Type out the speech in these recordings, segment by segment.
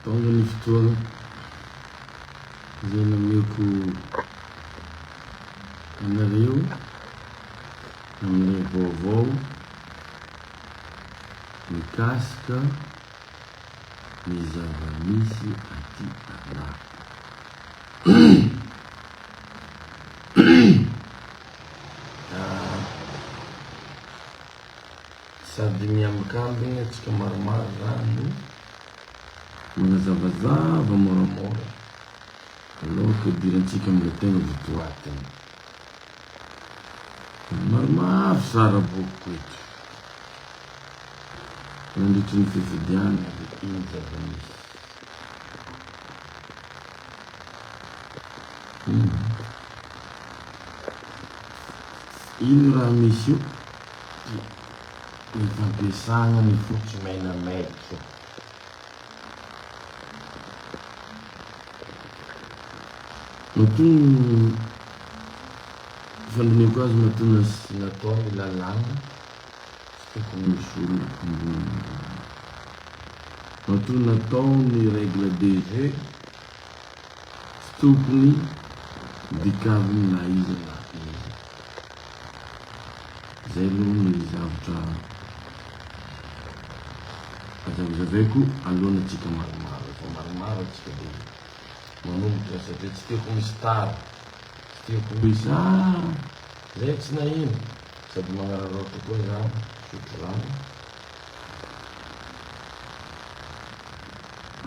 Tonga ny fotoana izay nomeko anareo amin'ny vaovao mikasika ny zava-misy aty anatiny. Sady miambin-kambiny antsika maromaro zany. Manazavazava moramora aloha ka idirantsika amin'ilay tena didoaden ny maromaro sara bokiko eto nandritry ny fifidianana dia iny zava-misy iny. Iny raha misy io dia Ny fampiasana ny fotsy maina maître. Matoa ny fandinihiko azy matoa na sy natao ny lalàna tsy tokony ho solona ambony lalàna. Matoa natao ny règle de jeu tsy tokony dikaviny na iza na iza. Izay aloha ny zavatra hazavazavaiko alohan antsika maromaro efa maromaro antsika dia manomboka satria tsy tiako misy tara tsy tiako hoe za zay tsy naheno sady magnararaotra koa za misotro rano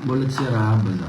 mbola tsy arahaba za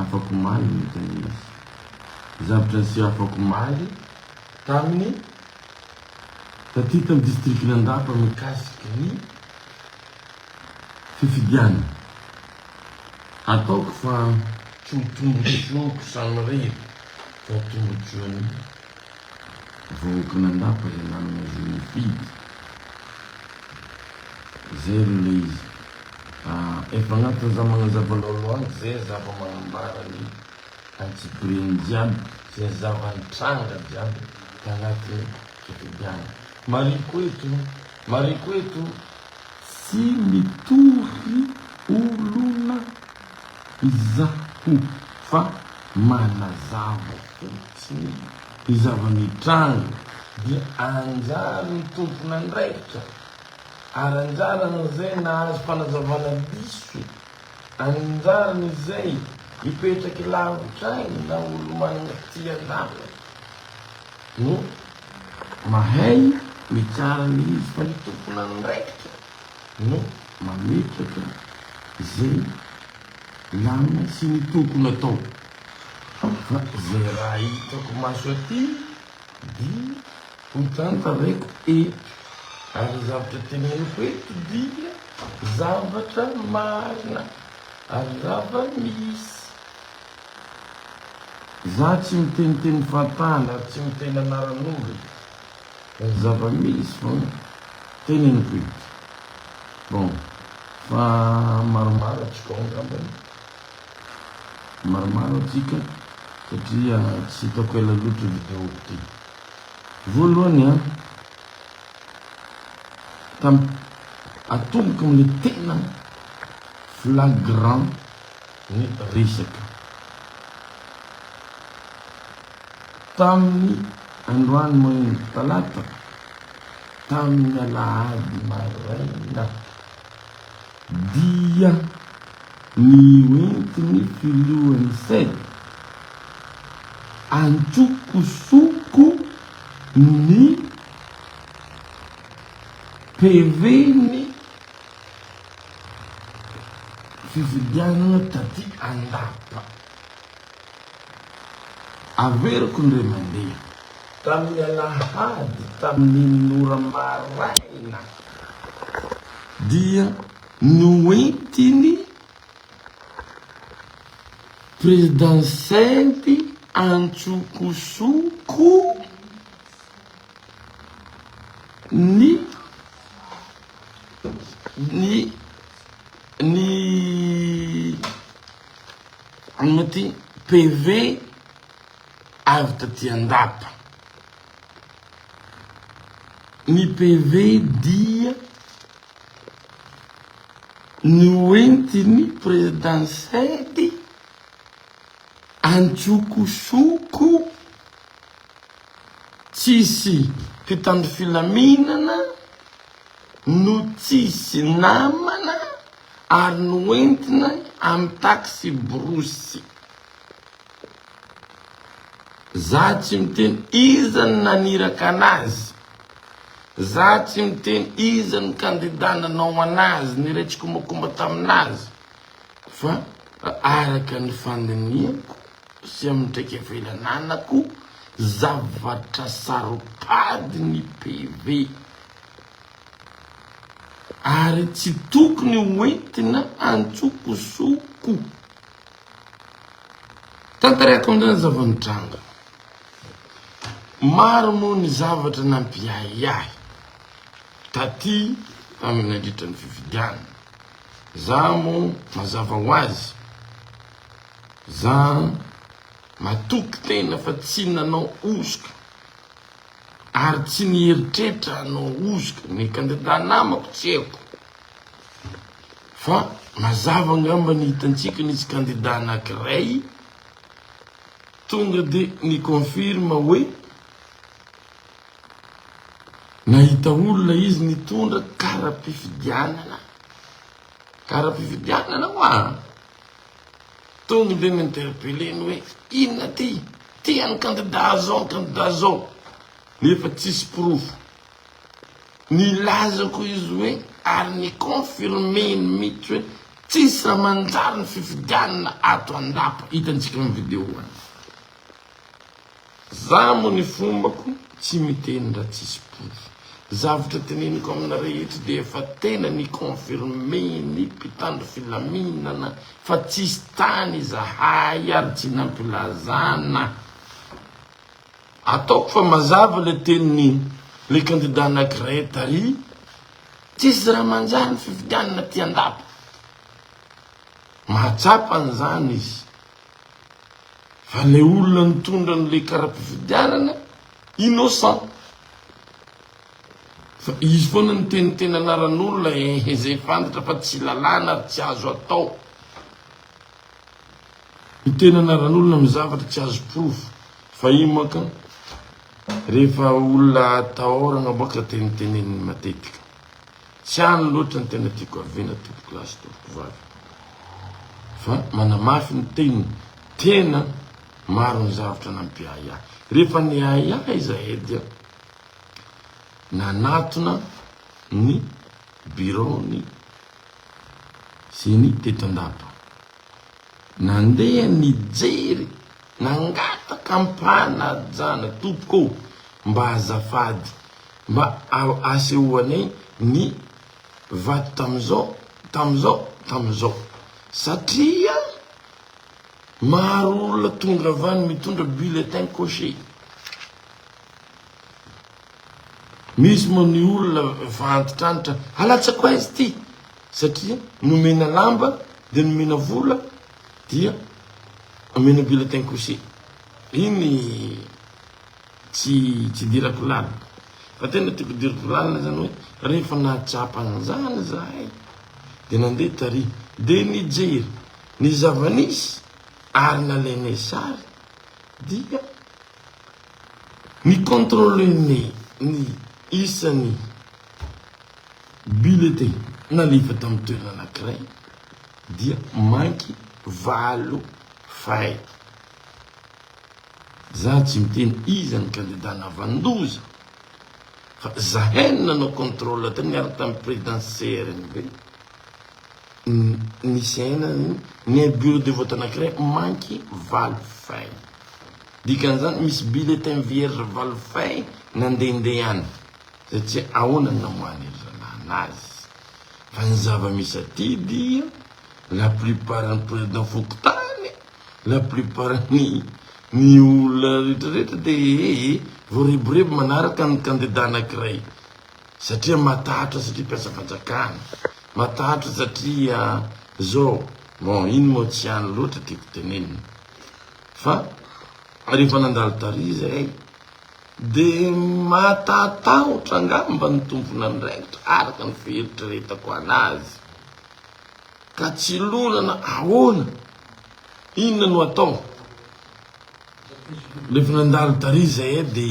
Afakomaly no tena izy. Zavatra niseho afakomaly tamin'ny tatitany distrikan'Andapa mikasika ny fifidianana. Ataoko fa tsy ho tombotsoako samirery fa ho tombotsoan'ny. Vahoaka nandapa le nanana izy nifidy zay aloha le izy ah efa agnatin'ny za magnazava laolo ato ze zava magnambara ny antsipiriany jiaby ze zava nitranga jiaby tagnatin'ny fifidiagna mariko eto mariko eto tsy mitory olona izaho fa manazava. Tsy misy. Ny zava-mitranga dia anjaran'ny tompon'andraikitra ara-anjaran'izay nahazo fanazavana diso, anjaran'izay mipetraky lavitra any na olo-manana fitia-dalana no mahay mitsara an'ilay izy fa ny tompon'andraikitra no mametraka izay lamina sy ny tokony atao. Fa izay raha hitako maso aty dia ho tantareko eto. Ary ny zavatra teneniko eto dia zavatra marina ary zava-misy. Izaho tsy miteny teny fantany ary tsy miteny anaran'olona fa ny zava-misy foana teneniko eto. Bon, fa maromaro atrikao angambany. Maromaro atsika satria tsy hitako ela loatra io vidéo ity. Voalohany an, tam atomboka amle tena flagrant ny resaka. Taminy androany manomboka talata, taminy alahady maraina, Dia ny hoentin'ny filohan'ny Ced, antsokosoko ny PV-n'ny fifidianana taty Andapa. Averiko ny ray aman-dreny. Tamin'ny alahady tamin'iny ora maraina dia noentin'ny President Sainty antsokosoko ny ny ny. Anaty PV avy taty an-dapa. Ny PV dia noentin'ny Président Sedy antsokosoko tsisy mpitandro filaminana, no tsisy namana ary noentina amin'ny taxi-brousse. Za tsy miteny iza no naniraka anazy, za tsy miteny iza no kandida nanao anazy, niray tsikombakomba taminazy fa araka ny fandinihako sy amin'ny traikefa ilananako zavatra saropady ny PV. Ary tsy tokony ho entina an-tsokosoko. Tantarako amin'izany zava-nitranga. Maro moa ny zavatra nampiahiahy taty tamin'ny nandritra ny fifidianana. Za moa mazava ho azy, za matoky tena fa tsy nanao hosoka. Ary tsy ny eritreritra hanao hosoka ny kandidà namako tsy haiko fa mazava angamba ny hitantsika nisy kandidà anankiray tonga dia ni-confirme hoe nahita olona izy nitondra kara-pifidianana, kara-pifidianana ho'a. Tonga dia mi-interpeller ny hoe inona ty? Ty an'ny kandida zao, ny kandida zao. Nefa tsisy porofo. Nilaza koa izy hoe ary ni-confirmer-ny mihitsy hoe tsisy raha manjary ny fifidianana ato Andapa. Hitantsika amin'ny video any. Za mo ny fombako tsy miteny ra tsisy proof. Zavtra teneniko amina rehetra de efa tena ni confirmer ny mpitandro filaminana fa tsisy tany izahay ary tsy nampilazana. Ataoko fa mazava le teniny le kandida anakiray tary, tsisy ra manjary ny fifidianana aty andapa. Mahatsapa anzany izy. Fa ilay olona nitondra an'ilay kara-pifidianana, innocent. Fa izy foana niteniteny anaran'olona, ehe izay fantatra fa tsy lalàna ary tsy azo atao. Miteny anaran'olona amin'ny zavatra tsy azo porofo. Fahiny manko rehefa olona atahorana moa ka tenitenenin'ny matetika. Tsy any loatra ny tena tiako haviana tompoko lahy sy tompoko vavy fa manamafy ny teniny tena maro ny zavatra nampiahy ahy rehefa niahy ahy izahay dia nanatona ny biraony ceni teto andapa nandeha nijery nangataka ampanajana tompoko mba azafady Mba asehoanay ny vato tamin'izao, tamin'izao, tamin'izao. Satria maro olona tonga avy any mitondra bulletin coché. Misy moa ny olona efa antitrantitra, alatsako aiza ity? Satria nomena lamba, dia nomena vola, dia omena bulletin coché. Iny. Tsy tsy dirako lalina. Fa tena tiako diriko lalina zany hoe rehefa nahatsapa an'izany zahay dia nandeha tary dia nijery ny zava-nisy ary nalainay sary dia ni-contrôler-nay ny isan'ny bulletin nalefa tamin'ny toerana anankiray dia manky valo fay. Za tsy miteny iza ny candidat navandoza fa zahay no nanao controle teo niaraka tamin'ny président CRNB nisy aina ny bureau de vote anakiray manky valo feuille dikan'izany misy bulletin vierge valo feuille nandehandeha any zay tsy ahoana ny namoahan'iry zalahy anazy fa ny zava-misy aty dia La plupart ny président fokontany, la plupart ny ny olona rehetra rehetra de ee voareborebo manaraka ny candidat anankiray satria matahotra satria mpiasa fanjakana, matahotra satria zao, bon iny moa tsy any loatra tiako tenenina fa rehefa nandalo tary zahay de matatahotra angamba ny tomponandraikitra araka ny fieritreretako anazy. Ka tsy lorana ahoana? Inona no atao? Rehefa nandalo tary zay de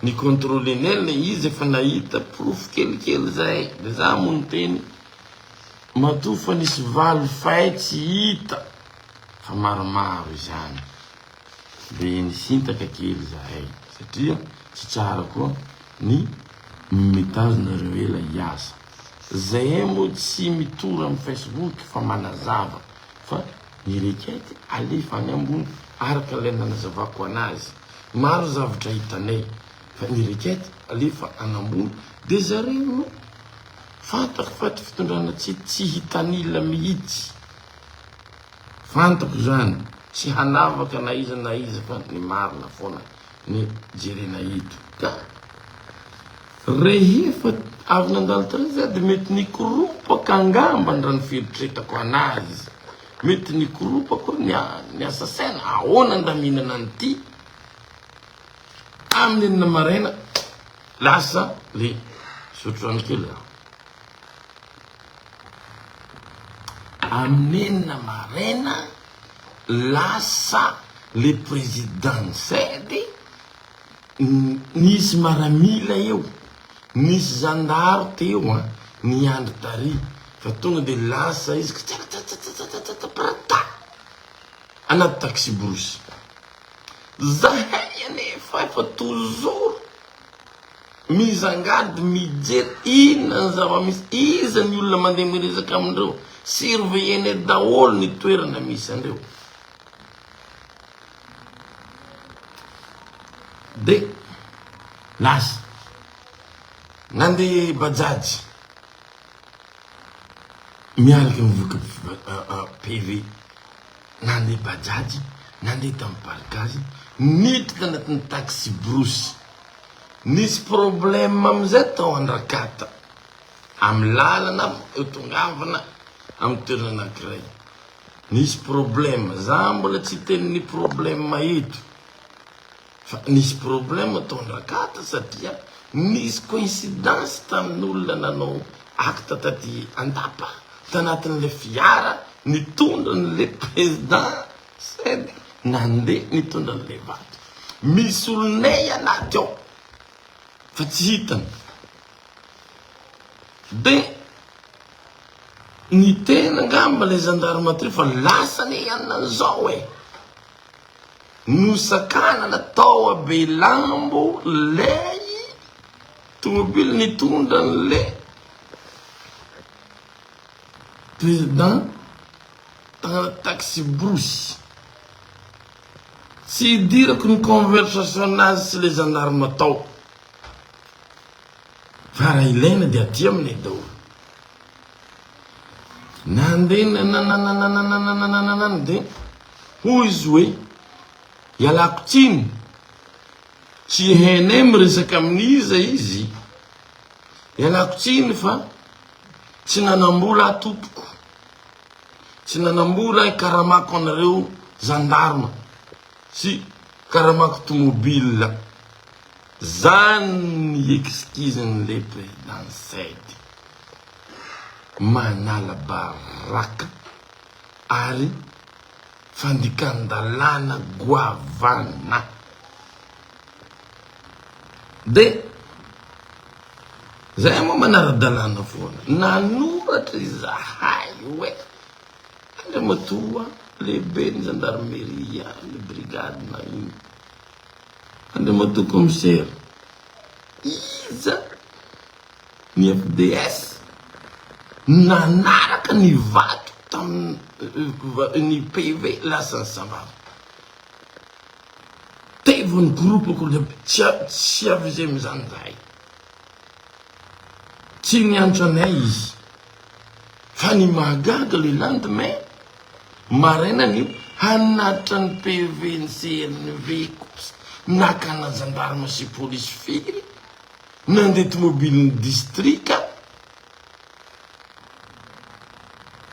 ni controle nel izy efa nahita porofo kelikely zay de za mo niteny matoa fa nisy valo fay tsy hita fa maromaro izany de nisintaka kely zahay satria tsy tsara koa ny mitazona reo ela hiasa. Zahay moa tsy mitory amin'ny Facebook fa manazava fa ny requête alefa any ambony araka ilay nanazavako anazy. Maro zavatra hitanay fa ny requête alefa any ambony dia zareo no. Fantako fa ity fitondrana ity tsy hitanila mihitsy. Fantako izany, tsy hanavaka na iza na iza fa ny marina foana. ny jerena eto ka rehefa avy nandalo tary za de mety nikoropaka angamba ndra ny fieritretako anazy mety nikoropako ny ny asa saina ahoana ndra mihinana an'ity amin'ny enina maraina lasa le zotro rano kely za Amin'ny enina maraina lasa le président nisedy, nisy maramila eo, nisy zandary teo an, niandry tary fa tonga de lasa izy kitsakitsakitsakitsakitsa prata anaty taxi brousse, zahay anefa efa toujours. Mizangady mijery inona ny zava-misy, iza ny olona mandeha miresaka amindreo, surveiller-nez daholo ny toerana misy andreo. De lasa nandeha bajaj miaraka mivoaka PV, nandeha bajaj, nandeha tamin'ny parc azy, niditra anatin'ny taxi-brousse. Nisy problème amin'izay tao Andrakata, amin'ny lalana eo tongavana amin'ny toerana anankiray. Nisy problème, za mbola tsy hiteny ny problème eto, fa nisy problème tao Andrakata satria nisy coïncidence tamin'olona nanao acte taty Andapa, tanatin'ilay fiara nitondra an'ilay président Said nandeha nitondra an'ilay vato. Misy olonay anaty ao fa tsy hitany. Dia niteny angamba ilay zandarimatoria fa lasa anie i Anna izao e. Nosakanana tao Ambehilambo ilay tomobily nitondra an'ilay président. taxi-brousse. Tsy idirako ny conversation-nazy sy le gendarme tao. Fa raha ilaina dia aty aminay daholo. Nandeha nanananananananananananana dia hoy izy hoe ialako tsiny, tsy hainay miresaka amin'iza izy, ialako tsiny fa tsy nanam-bola aho tompoko. Tsy nanamora ny karamako anareo zandarma sy karamako tomobile. Zany ny excuse n'le président Said. Manala baraka ary Fandikan-dalàna goavana. Dia izahay moa manara-dalàna foana. Nanoratra izahay hoe Andriamatoa Lehiben'ny Zandarmeria ny Brigade na inona, Andriamatoa Kaomisera, iza? Ny FDS no nanaraka ny vato tamin ny PV lasa ny Sahvava. Taivo ny groupe ko le tsy avisé amin zany zahay. Tsy niantso anay izy. Fa ny mahagaga le lendemain maraina ny hanatitra ny PV ny CNV kosa nakana gendarme sy police firy. Nandeha tomobilin'ny distrika,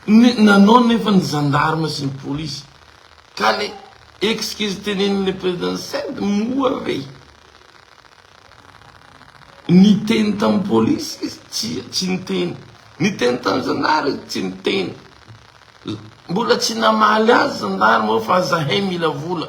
nanao nefa ny zandarma sy ny polisy. Ka le excuse tenenin'ilay president Said moa ve niteny tamin'ny polisy izy? Tsia, tsy niteny. Niteny tamin'ny zandary izy? Tsy niteny. Mbola tsy namaly azy zandarma hoe fa zahay mila vola.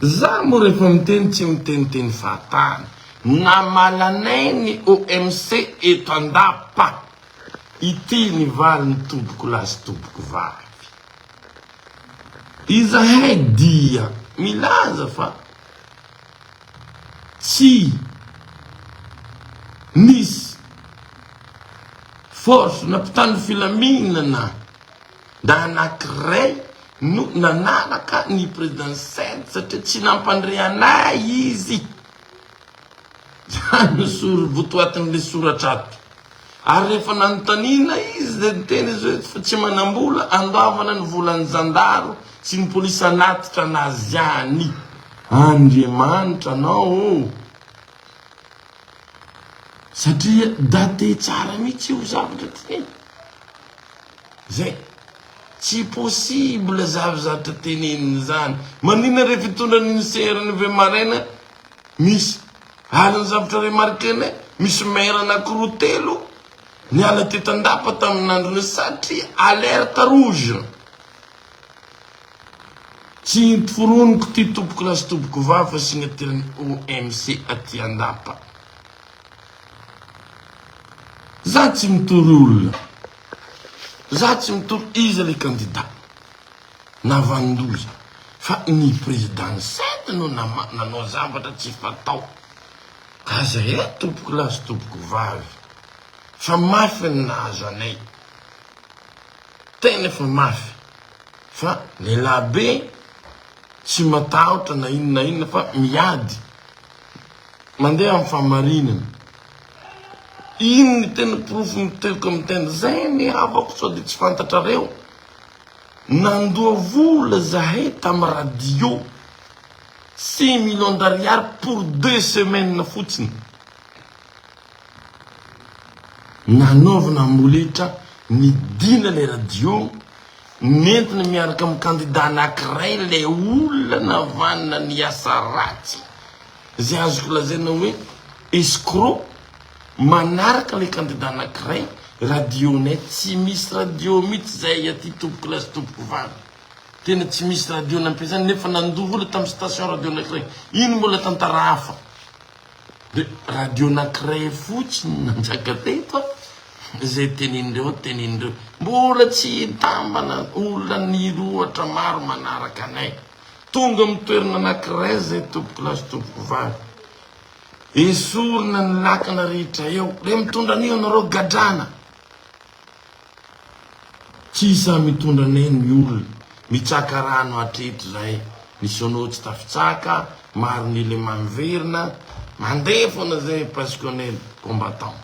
Za moa rehefa miteny tsy miteny teny fahatany. Namalanay ny OMC eto andapa. Ity ny valiny tobiko lahy sy tobiko vavy. Izahay dia milaza fa tsy nisy force na mpitandro filaminana. Ndra anankiray no nanaraka ny President Said satria tsy nampandre anay izy. Izany no sor votoatin'ilay soratra ato. Ary rehefa nanontaniana izy dia niteny izy hoe fa tsy manam-bola handoavana ny volan'ny zandaro sy ny polisy hanatitra anazy any. Andriamanitra anao ô! Satria date tsara mihitsy io zavatra ty. Zay. Tsy possible zany zatra teneniny zany. Maninona re fitondran iny CR iny ve maraina misy. Ary ny zavatra remarquer-nay misy maire anakiroa telo niala teto andapa tamin andron'io satria alerte rouge. Tsy foroniko ty tompoko lahy sy tompoko vavy fa signature ny OMC aty andapa. Za tsy mitory olona. Za tsy mitory iza le kandida na vanindoza fa ny prezida ny sady no nama nanao zavatra tsy fatao aza e tompoko lahy sy tompoko vavy fa mafy ny nahazo anay tena efa mafy fa lehilahy be tsy matahotra na inona na inona fa miady Mandeha amin'ny fahamarinana. Iny ny tena porofo mitoeky amin'ny tena. Zay ny havako sao dia tsy fantatrareo. Nandoa vola zahay tamin'ny radio. Six millions d'ariary pour deux semaines fotsiny. Nanaovana amboletra nidina ilay radio, nentina miaraka amin'ny kandida anankiray ilay olona navanana ny asa ratsy izay azoko lazaina hoe escroc manaraka ilay kandida anankiray radionay tsy misy radio mihitsy izay aty tompoko lahy sy tompoko vavy tena tsy misy radio nampiasany nefa nandoa vola tamin'ny station radio anankiray iny mbola tantara hafa dia radio anankiray fotsiny nanjaka teto a izay tenin'ireo tenin'ireo mbola tsy hitambana olona nirohatra maro manaraka anay Tonga amin'ny toerana anankiray izay tompoko lahy sy tompoko vavy. Esorina ny lakana rehetra eo. Ilay mitondra an'io ianareo gadrana. Tsy isan'ny mitondra anay ny olona. Mitsaka rano hatreto izay. Ny Sono tsy tafitsaka, maro ny lemano verina. Mandeha foana izay parce qu'on est combattant.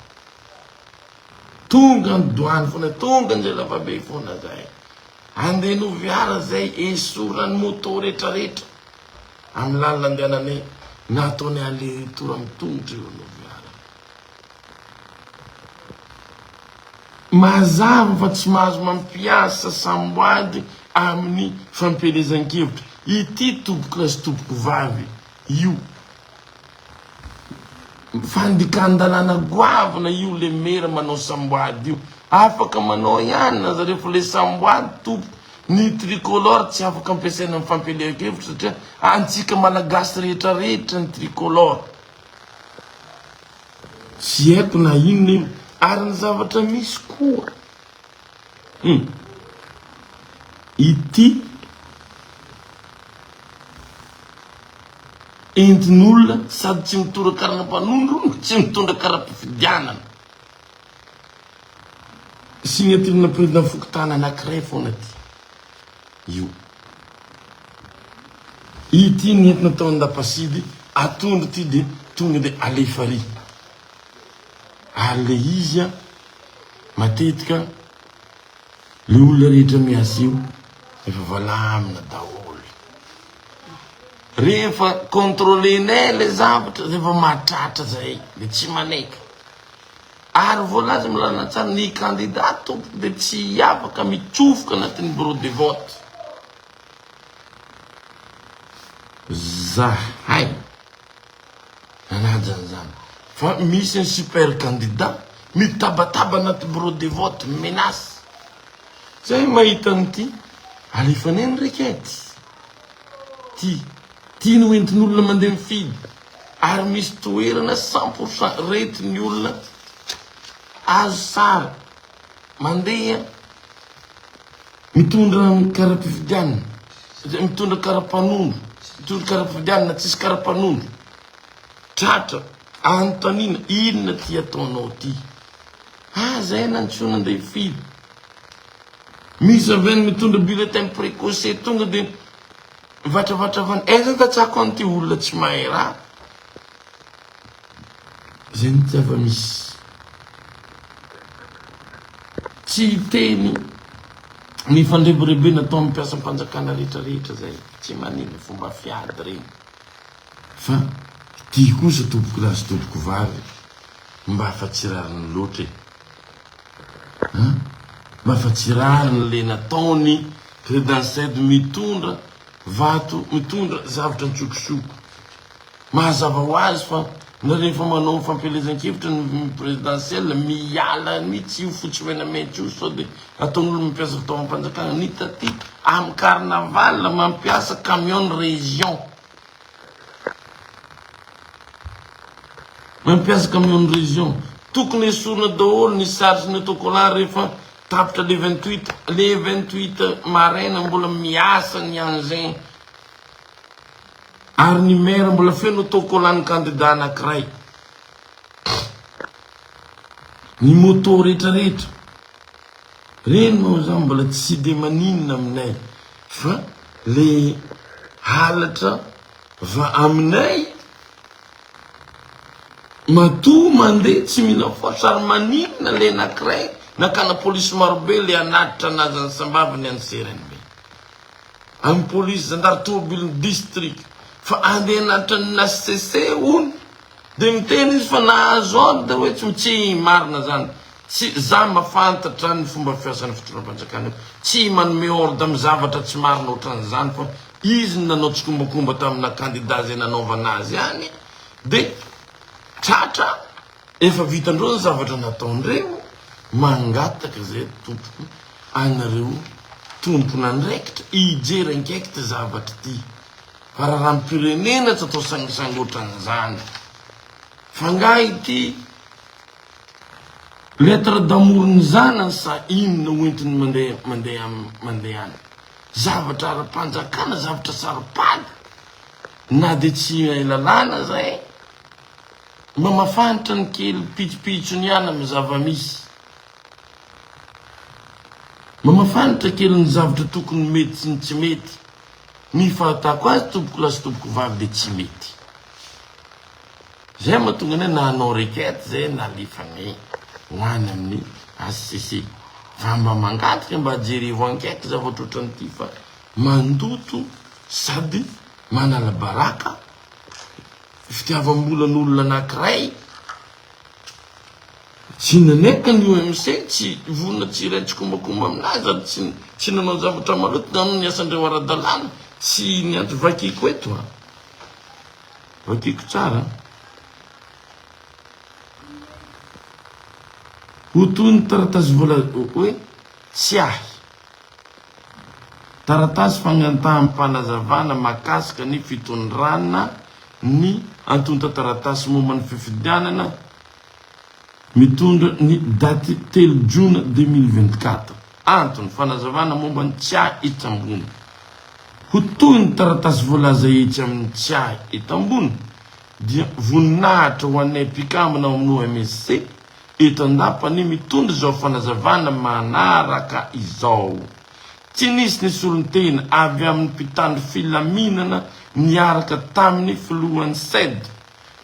Tonga ny douane fona, tonga zay zavabe fona zay, andeha noviara zay esorany moto retra retra am lalana andehananay na ataonay aller retour am tongotra eo noviara. Mazava fa tsy mahazo mampiasa samboady aminy fampielezankevitra ity tompokolahy sy tompokovavy io Fandikan-dalàna goavana io le mera manao samboady io. Afaka manao ihany na zareo fa le samboady tompoko. Ny tricolore tsy afaka ampiasaina amin'ny fampielehan-kevitra satria antsika malagasy rehetra rehetra ny tricolore. Tsy haiko na inona io. Ary ny zavatra misy koa, hum, ity. Entin'olona sady tsy mitory karana mpanondro, tsy mitondra kara-pifidianana. Signature-na président fokontany anankiray foana ity. Io. Ity ny entina tao an-dapasidy atondro ity dia tonga dia alefa ary. Ary le izy a, matetika le olona rehetra miasa io efa valamina daholo. Rehefa controlenay ilay zavatra, rehefa mahatratra izay dia tsy manaiky. Ary voalaza milalina tsara, ny kandida tompoko dia tsy afaka mitsofoka anatin'ny bureau de vote. Zahay. Manaja an'izany fa misy ny super candidat mitabataba anaty bureau de vote menace. Zay mahita an'ity alefany any rekety. Ty ty no entin'olona mandeha mifidy ary misy toerana cent pour cent retin'ny olona azo sary. Mandeha mitondra ny kara-pifidianana satria mitondra kara-panondro, mitondra kara-pifidianana tsisy kara-panondro. Tratra, anontaniana, inona ty ataonao ty? Ah, zay na tsy ho nandeha firy. Misy avy any mitondra bulletin précoce tonga dia mivatravatra avy any. Eh, zany tatsako an'ity olona tsy mahay raha. Zay ny zava-misy. Tsy hiteny ny fandrebirebena atao amin'ny mpiasam-panjakana rehetra rehetra zay, tsy maneho fomba fiady reny, fa ty kosa tompoko lahy sy tompoko vavy mba fa tsy rariny loatra e! An! Mba fa tsy rariny le nataony Credansed mitondra vato, mitondra zavatra an-tsokosoko. Mahazava ho azy fa na rehefa manao ny fampielezan-kevitra ny prezidansiela, miala ny tsy io fotsy mena mainty io sao dia ataon'olona mampiasa fitaovam-panjakana. Ny taty amin'ny carnaval mampiasa camion région. Mampiasa camion région. Tokony esorina daholo ny sary sy ny autocollant rehefa tapitra le vingt huit, le vingt huit maraina mbola miasa ny engins. Ary ny maire mbola feno autocollant ny candidat anakiray. Ny moto rehetra rehetra. Reny moa zany mbola tsy de maninona aminay fa le halatra va aminay matoa mandeha tsy mila force ary maninona le anakiray nakana police marobe le hanatitra anazy any sambavany any CRNB. Amin'ny polisy zandary tomobilin'ny distrika fa andeha hanatitra ny hcc hono dia miteny izy fa nahazo ordre hoe tsy tsy marina zany tsy za mafantatra ny fomba fiasan'ny fitondram-panjakana io tsy manome ordre amin'ny zavatra tsy marina ohatran'izany fa izy no nanao tsikombakomba tamina kandida izay nanaovana azy any dia tratra Efa vitandreo zay zavatra nataondreo mangataka zay tompoko anareo tompon'andraikitra hijery ankaiky ty zavatra ty fa rarampirenena tsy atao sangisangy otran'izany fa nga ity lettre d'amour ny zanany sa inona ho entiny mande mande mandehana zavatra ara-panjakana zavatra saropady na de tsy hay lalàna zay Mba mafantra ny kely pitsopitso ny aina amin'ny zava-misy. Mba mafantra kely ny zavatra tokony mety sy ny tsy mety. Ny fahatako azy tompoko lahy sy tompoko vavy dia tsy mety. Izay mahatonga anay na hanao requête izay na alefany ho any amin'ny HCC. Fa mba mangataka mba jerevo enquête zavatra ohatran'ity fa mandoto sady manala baraka. fitiavambola ny olona anakiray tsy nanaiky ny OMC tsy vonona tsy hiray tsikombakomba aminazy ary tsy tsy nanao zavatra maloto nanao ny asandreo aradalana tsy ny anto vakiko eto a vakiko tsara ho toy ny taratasy vola hoe tsy ahy Taratasy fagnantahanm-panazavana mahakasika ny fitondrana ny antontan-taratasy momba ny fifidianana mitondra ny daty telo Jona deux mille vingt-quatre. Antony, fanazavana momba ny tsiahy etsy ambony. Ho toy ny taratasy voalaza etsy amin'ny tsiahy eto ambony, dia voninahitra ho anay mpikambana ao amin'ny OMSC Eto an-dapa anie mitondra izao fanazavana manaraka izao, Tsy nisy ny solontena avy amin'ny mpitandro filaminana niaraka tamin'ny filohan'ny Ced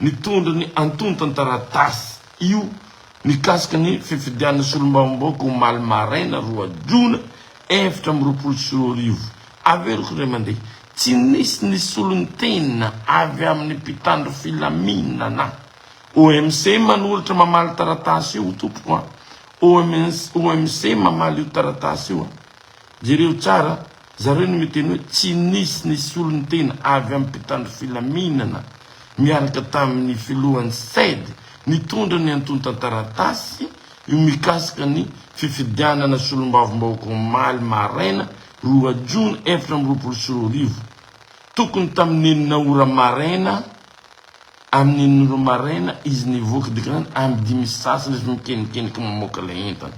nitondra ny antontan-taratasy io mikasika ny fifidianana solombavambahoaka omaly maraina roa jona efatra amby roapolo sy roa arivo. Averiko indray mandeha, Tsy nisy ny solontena avy amin'ny mpitandro filaminana OMC manolotra mamaly taratasy io tompoko a! OMC mamaly io taratasy io a! Jereo tsara, zareo no miteny hoe tsy nisy ny solontena avy amin'ny mpitandro filaminana miaraka tamin'ny filohan'ny CED nitondra ny antontan-taratasy io mikasika ny fifidianana solombavambahoaka omaly maraina roa jona efatra amby roapolo sy roa arivo. Tokony tamin'ny enina ora maraina Amin'ny nolo maraina izy nivoaka dia grande amin'ny dimy sy sasany izy mikenikeniky mamoaka ilay entana.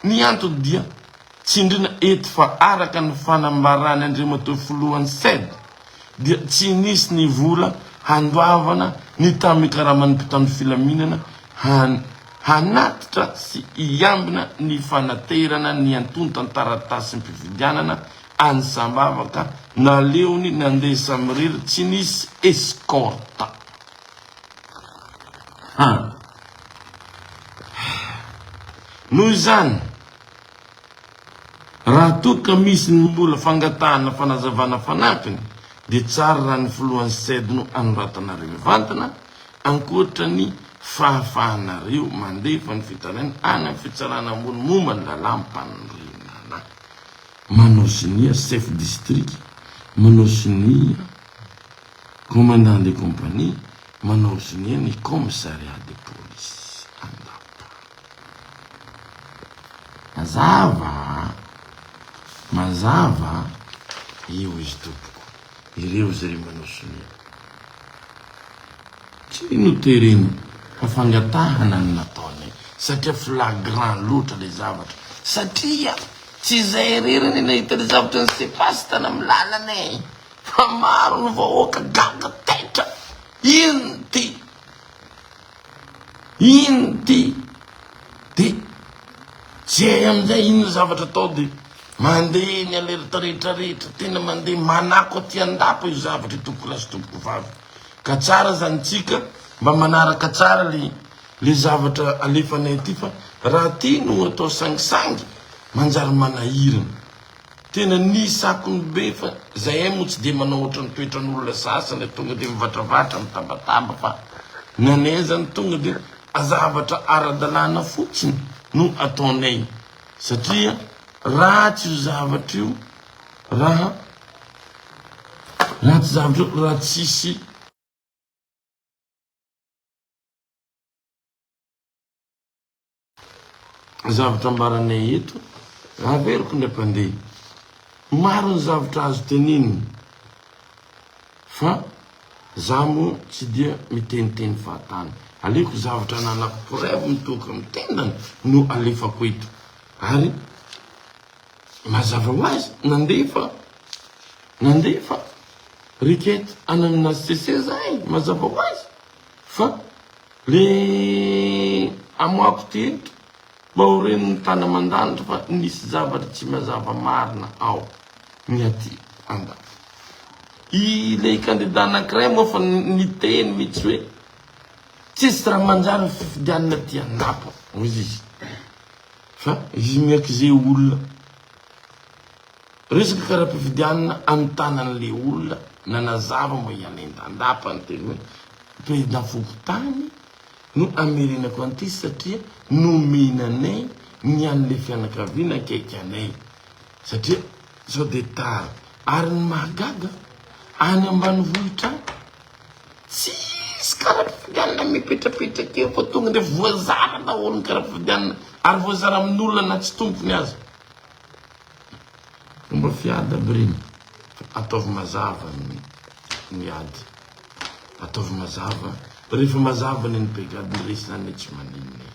Ny antony dia tsindriana eto fa araka ny fanambaran' Andriamatoa Filohan'ny Ced dia tsy nisy ny vola handoavana ny tamin'ny karaman'ny mpitandro filaminana hanatitra sy hiambina ny fanaterana ny antontan-taratasim-pifidianana Any Sambava ka naleony nandeha samirery tsy nisy escorte. An! Noho izany, raha toa ka misy ny mbola fangatahana fanazavana fanampiny dia tsara raha ny filohan'ny CEDD no anoratanareo mivantana ankoatra ny fahafahanareo mandefa ny fitarainana any amin'ny fitsarana ambony momba ny lalàm-panorenana. Manao sonia chef district, manao sonia commandant de compagnie, manao sonia ny commissariat de police Andapa. Mazava a! Mazava a! Io izy tompoko, ireo izy ireo manao sonia. Tsy noterena fa fangatahana no nataony satria flagrant loatra ilay zavatra, satria Tsy izay irery anie nahita ny zavatra nisepas tany amin'ny lalana e! Fa maro ny vahoaka gaga taitra! Inn ty? Inn ty? De zay amin'izay inn ny zavatra atao de mandeha eny alerta rehetra rehetra, tena mandeha manako aty an-dapa io zavatra io tompokolahy sy tompokovavy! Ka tsara zany tsika mba manaraka tsara le le zavatra alefanay aty fa raha aty no atao sangisangy manjary manahirana tena ny sakony be fa zahay moa tsy dia manao ohatran'ny toetran'olona sasany a tonga dia mivatravatra mitabataba fa ny anay azany tonga dia zavatra ara-dalàna fotsiny no ataonay satria ratsy io zavatra io raha ratsy zavatra io raha tsisy Zavatra ambaranay eto, averiko indray mpandeha. Maro ny zavatra azo tenenina, fa za moa tsy dia miteniteny fahatany. Aleoko zavatra ananako preuve mitohoka amin'ny tendany no alefako eto. Ary mazava ho azy, nandefa nandefa requête anan'ny HCC zahay, mazava ho azy. Fa le amoako teto mba ho ren'ny tany aman-danitra fa nisy zavatra tsy mazava marina ao ny aty andafy. Ilay kandida anankiray moa fa niteny mihitsy hoe tsisy raha manjary ny fifidianana aty anapa hoy izy fa izy miak'izay olona. Resaka kara-pifidianana any tanany le olona nanazava moa i Alain Dandapa niteny hoe président fokontany no hamerenako an'ity satria nomena anay ny an'le fianakaviana akaiky anay satria sao dia tara. Ary ny mahagaga any ambanivohitra any tsisy kara-pifidianana mipetrapetraka eo fa tonga dia voazara daholo ny kara-pifidianana ary voazara amin'olona na tsy tompony aza. Fomba fiady aby reny fa ataovy mazava ny ady, ataovy mazava, rehefa mazava ny an'i brigade ny resy zany tsy maninona e!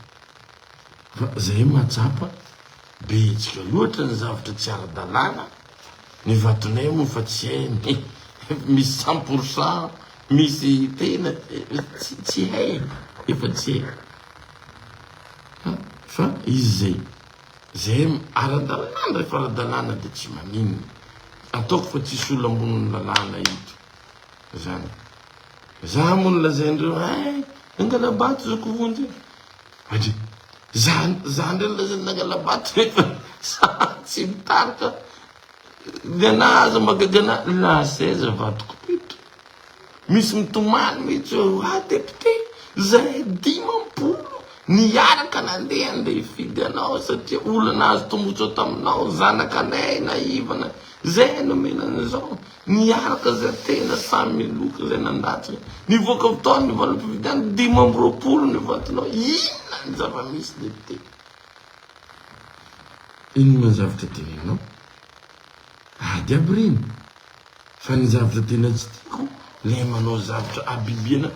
Fa zahay mahatsapa be hetsika loatra ny zavatra tsy ara-dalàna, ny vatonay moa fa tsy hainy e! misy cent pour cent, misy tena tsy hay e! efa tsy hay fa izy zay. Zay aradalana ndray fa aradalana de tsy maninona ataoko fa tsisy olona amboniny lalana eto zany za moa no lazaindreo ay nangalabato zako vonjy adry za za ndray lazainy nangalabato nefa za tsy mitarika Gana aza maka gana la seize vadiko pito misy mitomany mitsy oe wa depite zahay dimampolo niaraka nandeha andeha hifidy anao satria olona nahazo tombotsoa taminao zanakanay naivana zahay nomena anizao niaraka za tena samy miloka zay nandatsaka nivoaka avy tao ny valim-pifidianana dimy amby roapolo ny vatonao inona ny zava-misy depite Inona ny zavatra teneninao? Ady aby ireny. Fa ny zavatra tena tsy tiako ilay manao zavatra habibiana,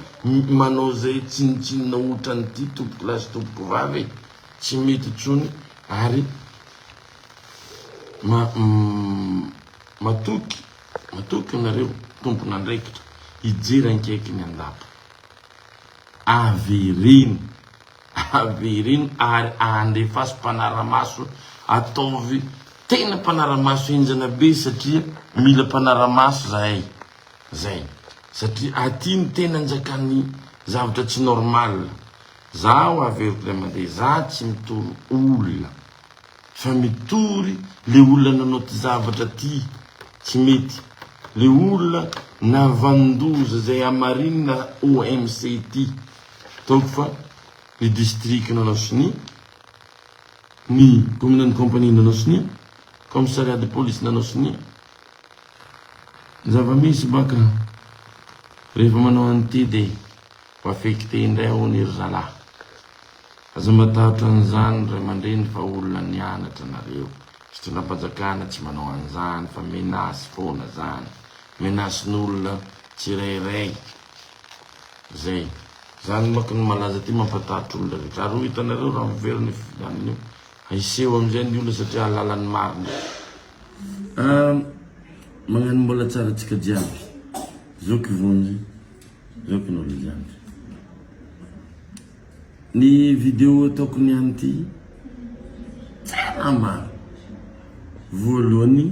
manao izay tsinontsinona otran'ity tompoko lahy sy tompoko vavy e. Tsy mety intsony ary matoky, matoky ianareo tompon'andraikitra hijery ankaiky ny andapa. Avereno. Avereno ary andefaso mpanaramaso ataovy tena mpanaramaso henjana be satria mila mpanaramaso zahay zay satria aty ny tena anjakan'ny zavatra tsy normal zaho averiko ray aman-dreny za tsy mitory olona fa mitory le olona nanao ty zavatra ty tsy mety le olona navandoza zay hamarinina OMC ty Ataoko fa ny distrikan'Anasisonia, ny kaomininan'ny kaompanian'Anasisonia, kaomisariaty polisin'Anasisonia, ny zava-misy baka rehefa manao an'ity dia ho affecté indray hono ry zalahy. Aza matahotra an'izany ray aman-dreny fa olona nianatra nareo. Fitondram-panjakana tsy manao an'izany fa menace foana zany. Menace-n'olona tsirairay. Zay. Zany manko ny malaza ty mampatahotra olona rehetra. Ary ho hitanareo raha miverina io fifidianana io. Hiseho amizay ny olona satria hahalala ny marina. Ah magnano mbola tsara atsika jiaby zoky vonjy zoky ny olo jiaby ny video ataoko ny any ty tsara maro voalohany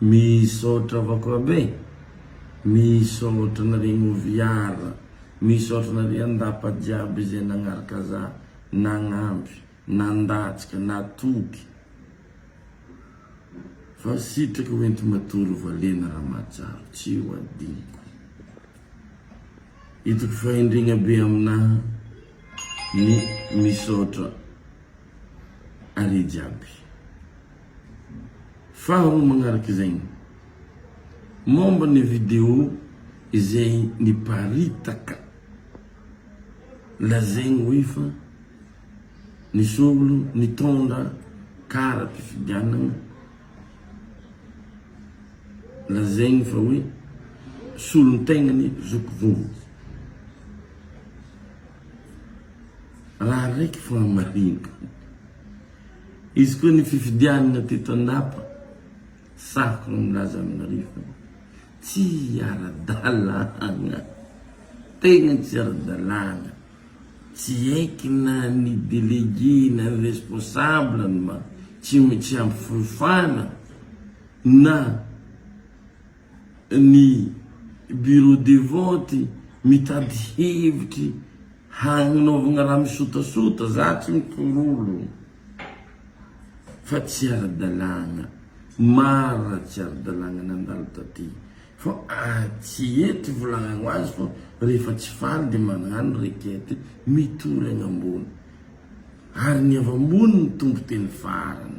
Misaotra Vakorabe, misaotra anareo Moviar, misaotra anareo Andapa jiaby izay nagnaraka za, nagnampy, nandatsaka, natoky. Fa sitraka ho enti-matory valena Ramatsaro, tsy ho adinoko. Hitako fahendrena be aminaha ny misaotra are jiaby. Faharoa magnaraka izegny, mômba ny video izay niparitaka lazaigny hoe fa nisy olo nitôndra karam-pifidianagna lazaigny fa hoe solon-tegnany zoky vovoky. Raha raiky fôgna marigny. Izy koa ny fifidianana teto Andapa, saroka ny milaza aminareo fa tsy ara-dalàna, tegna tsy ara-dalàna, tsy haiky na ny délégué na ny responsable ny tsy ampy fahefana na. ny bureau de vote mitady hevitry hagnaovagna raha misotasota, za tsy mikororo fa tsy ara-dalàgna, mara tsy ara-dalàgna nandalo taty fô tsy eto ivolagnagno azy fô rehefa tsy faly de magnano requête mitory agny ambony ary ny avy ambony no tompon-teny farany.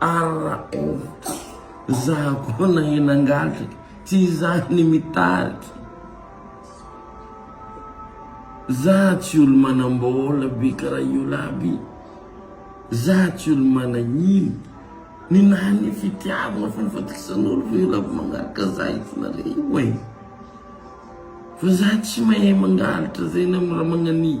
RAF, Za koa nahena an-gadra, tsy za ny mitady. Za tsy olo-manam-bola be karaha io lahy be. Za tsy olo-manahiny. Ny naha ny fitiavana fa ny fatokisan'olo ve io lahy vao mangalatra za io fona re oay. Fa za tsy mahay mangalatra zay na mora magnania.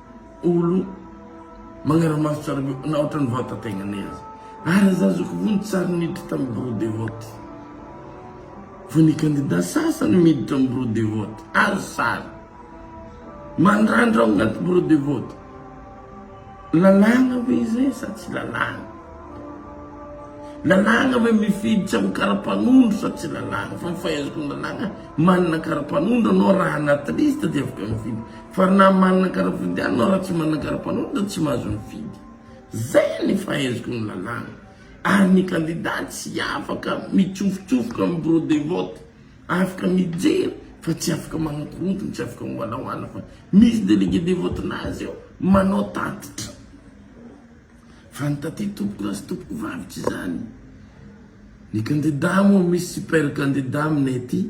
olo magnaramaso tsara be na ohatran'ny vatategnanay aza. Ary za zao ko vo nitsary niditra tam bureau de vote. Vo ny candidat sasany miditra am bureau de vote, azo sary. Mandrandra ao agnaty bureau de vote. Lalàgna ve zay sa tsy lalàgna? Lalàgna ve mifidy tsy am karapanondro sa tsy lalàgna? Fa ny fahaizako ny lalàgna, manana karapanondro anao raha agnaty liste de afaka mifidy. Fa na manana kara-fodianana raha tsy manana kara-panondro dia tsy mahazo mifidy. Zay ny fahaiziko ny lalàna. Ary ny kandida tsy afaka mitsofotsofoka amin'ny bureau de vote. Afaka mijery fa tsy afaka manakorontana, tsy afaka mivalahoala fa misy délégué de vote-nazy eo manao tatitra. Fa ny taty tompokolahy sy tompokovavy tsy izany. Ny kandida moa misy super kandida aminay aty.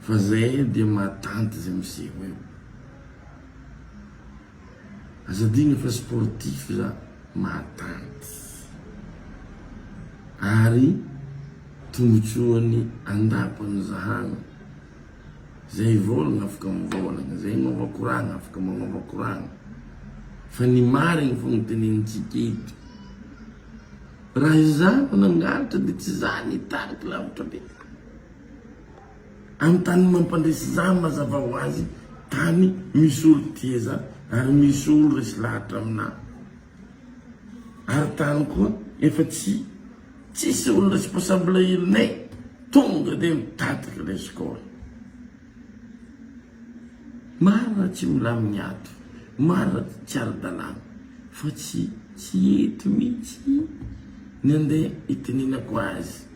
Fa zay dia mahatanty zay miseho eo. Aza adino fa sportif za mahatanty. Ary tombotsoany andapa no zahagna. Zay vôlagna afaka mivôlagna, zay magnova koragna afaka magnova koragna. Fa ny marigny fô no tenenintsika eto. Raha izaho no nangalatra dia tsy za ny hitarika lavitra be. Anontany ny mampandresy izany mazava ho azy tany misy olo tieza ary misy olo resy lahatra aminà. Ary tany koa efa tsy tsisy olo responsable ilne tonga dia mitadiky le score. Marina tsy milamigny ato, marina tsy ara-dalàna fa tsy tsy eto mihitsy ny andeha iteninako azy.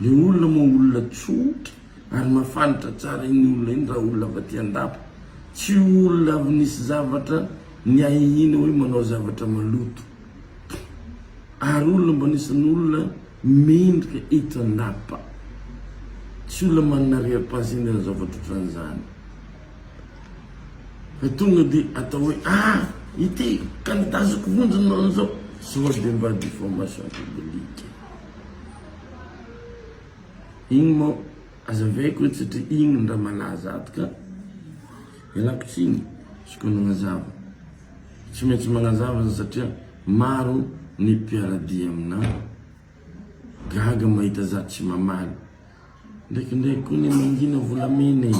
Le olona moa olona tsotra ary mafanitra tsara iny olona iny raha olona avy aty andapa. Tsy olona avy nisy zavatra niahiahiana hoe manao zavatra maloto. Ary olona mba anisan'ny olona mendrika eto andapa. Tsy olona manana arrière-pensée hanao zavatra ohatran'izany. Fa tonga dia atao hoe ah! ity candidat azoko vonjy nanao an'izao. Sao dia mba diffamation publique. Igny mô azavaiko eto satria igny no raha malaza ato ka. Ialako tsiny izy koa nagnazava. Tsy maintsy magnazava za satria maro ny mpiara-dia aminà. Gaga mahita za tsy mamaly. Ndraikindraiky koa anie mangina volamena e,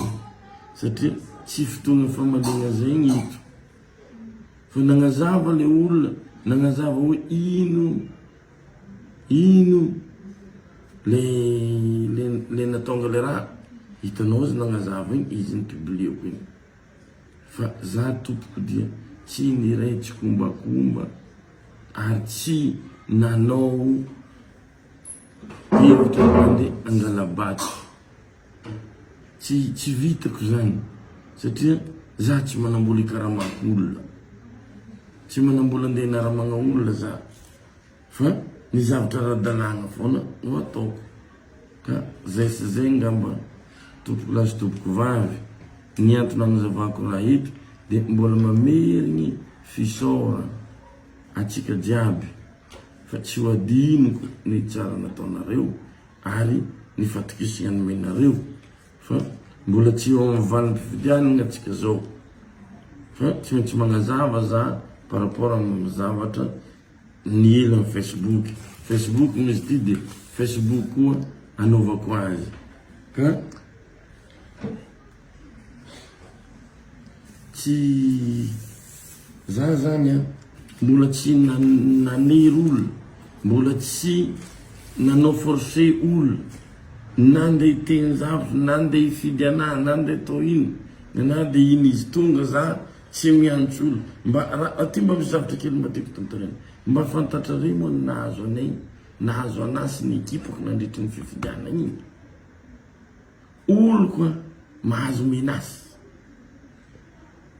satria tsy fotoagna famaliagna zegny eto. Fa nagnazava le olona, nagnazava hoe ino. Ino le le le natonga le raha? Hitanao izy nagnazava igny izy ny publieko igny fa za tompoko dia tsy niray tsikombakomba ary tsy nanao hevitra handeha hangala-bato. Tsy tsy vitako zany satria za tsy manambola ikaramako olona. Tsy manambola andeha hinaramagna olona za fa ny zavatra ara-dalàgna foana no ataoko ka zay sy zay ngamba tompoko lahy sy tompoko vavy ny antony anazavako raha eto de mbola mamerigny fisaoragna antsika jiaby fa tsy ho adinoko ny tsara nataonareo. Ary ny fatokisa nomenareo fa mbola tsy eo amin'ny valim-pifidianana tsika zao. Fa tsy maintsy magnazava za par rapport amin'ny zavatra niely amin'ny Facebook. Facebook moa izy ty dia Facebook koa anaovako azy ka. Tsy za zany an, mbola tsy nanery olona, mbola tsy nanao force olona na ndeha hiteny zavatra, na ndeha hifidy anahy, na ndeha atao ino, na dia ino izy, tonga za tsy mihanitra olona, mba raha aty mba misy zavatra kely mba tiako tontoraina, mba fantatrareo moa ny nahazo anay, nahazo anahy sy ny ekipako nandritry ny fifidianana iny? Oloko an, mahazo menace.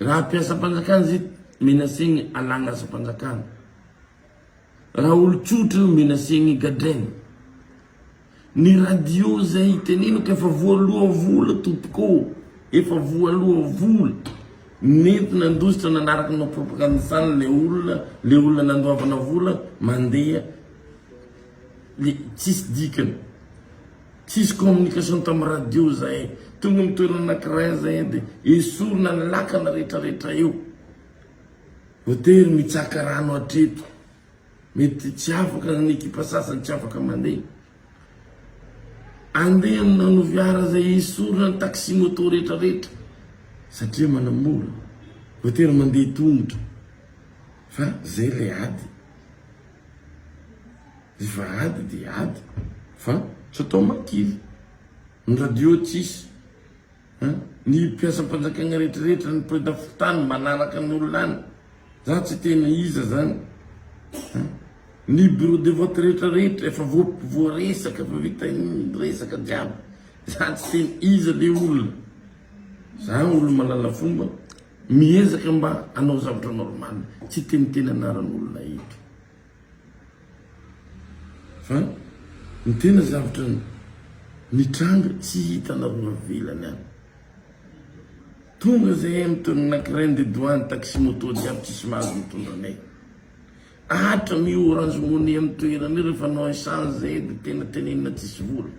Raha mpiasam-panjakana zit menacegny alagna asam-panjakana. Raha olo tsotra io menacegny gadraigny. Ny radio zay itenenako efa voaloha vola tompoko ô, efa voaloha vola. Nety nandositra nanaraka anao propagandisan le olona, le olona nandoavana vola mandeha le tsisy dikany. Tsisy communication tam radio zahay, tonga am toerana anakiray zahay de esorina ny lakana rehetra rehetra eo. Voatery mitsaka rano hatreto. Mety tsy afaka ny ekipa sasany tsy afaka mande. Ande am nanoviara zay esorina ny taxi moto rehetra rehetra satria manamora. Voatery mande tongotra fa zay le ady. Efa ady dia ady fa tsy atao makily. Ny radio tsisy a! Ny mpiasam-panjakana rehetrarehetra, ny prezida fokontany manaraka ny olona any. Za tsy tena iza zany a! Ny bureau de vote rehetrarehetra efa voaresaka, efa vita ny resaka jiaby. Za tsy tena iza le olona. Za olo malala fomba, miezaka mba hanao zavatra normal, tsy hiteniteny anaran'olona eto. Fa ny tena zavatra nitranga tsy hitanareo avelany any. Tonga zahay amin'ny toerana anankiray ndeha doany taxi moto jiaby tsisy mahazo mitondra anay. Atra mi orange money amin'ny toerana io rehefa anao essence zahay dia tena tenenina tsisy vola.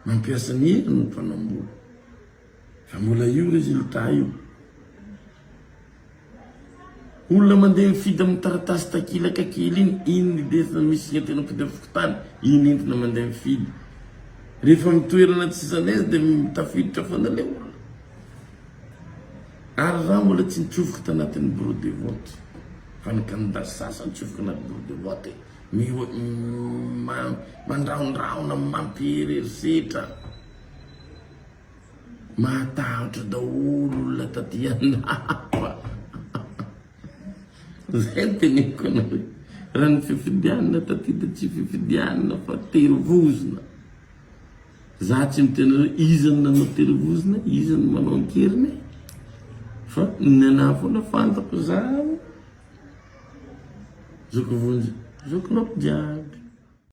Mampiasa ny hira no mpanambola. Fa mbola io résultat io. Olona mandeha mifidy amin'ny taratasy takilaka kely iny, iny ny desina misy signe teny ampody amin'ny fokontany, iny entina mandeha mifidy. Rehefa amin'ny toerana tsy zalaise dia tafiditra foana ilay olona. Ary rà mbola tsy nitsofoka tanatin'ny bureau de vote. Fa ny candidat sasany nitsofoka anaty bureau de vote, mandrahondrahona, mampihery herisetra. Mahatahotra daholo olona taty andafy. Zay no teneniko anareo. Raha ny fifidianana taty dia tsy fifidianana fa tery vozona. Za tsy miteny hoe iza no nanao tery vozona, iza no manao an-keriny e. Fa ny anahy foana fantako zaho, zoky vonjy, zoky loko jiaby.